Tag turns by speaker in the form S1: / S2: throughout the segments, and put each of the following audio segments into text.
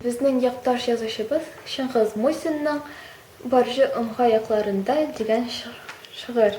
S1: Безнең якташ язучыбыз Чыңгыз Мусинның Баржы омга якларында дигән шыгырь.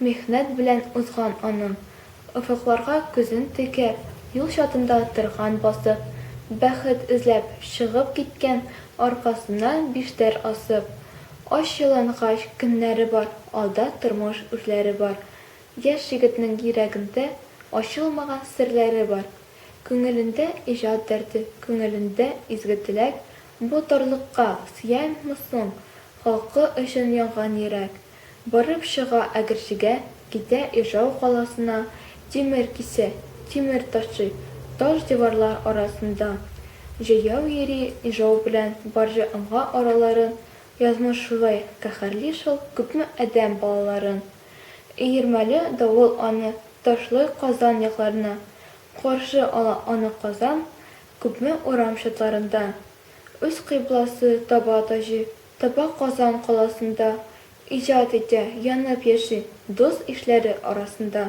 S1: Михнәт белән узган аның. Офыкларга күзен текәп, юл чатында торган басып, Бәхет эзләп чыгып киткән аркасына биштәр асып. Ач ялангач көннәре бар, алда тормыш үрләре бар. Яшь егетнең йөрәгендә ачылмаган серләре бар. Күңелендә иҗат дәрте, күңелендә изге теләк, Бу тарлыкка сыямы соң халкы өчен янган йөрәк? Барып чыга Әгерҗегә, китә Ижау каласына, тимер кисә, тимер ташый, таш-диварлар арасында. Җәяү йөри Ижау белән Барҗа Омга араларын, язмыш шулай каһәрли шул күпме адәм балаларын. Өермәле давыл аны ташлый Казан якларына, каршы ала аны Казан күпме урам чатларында. Үз кыйбласы таба Таҗи Таба Казан каласында, Иҗат итә, янып яши, Дус-ишләре арасында.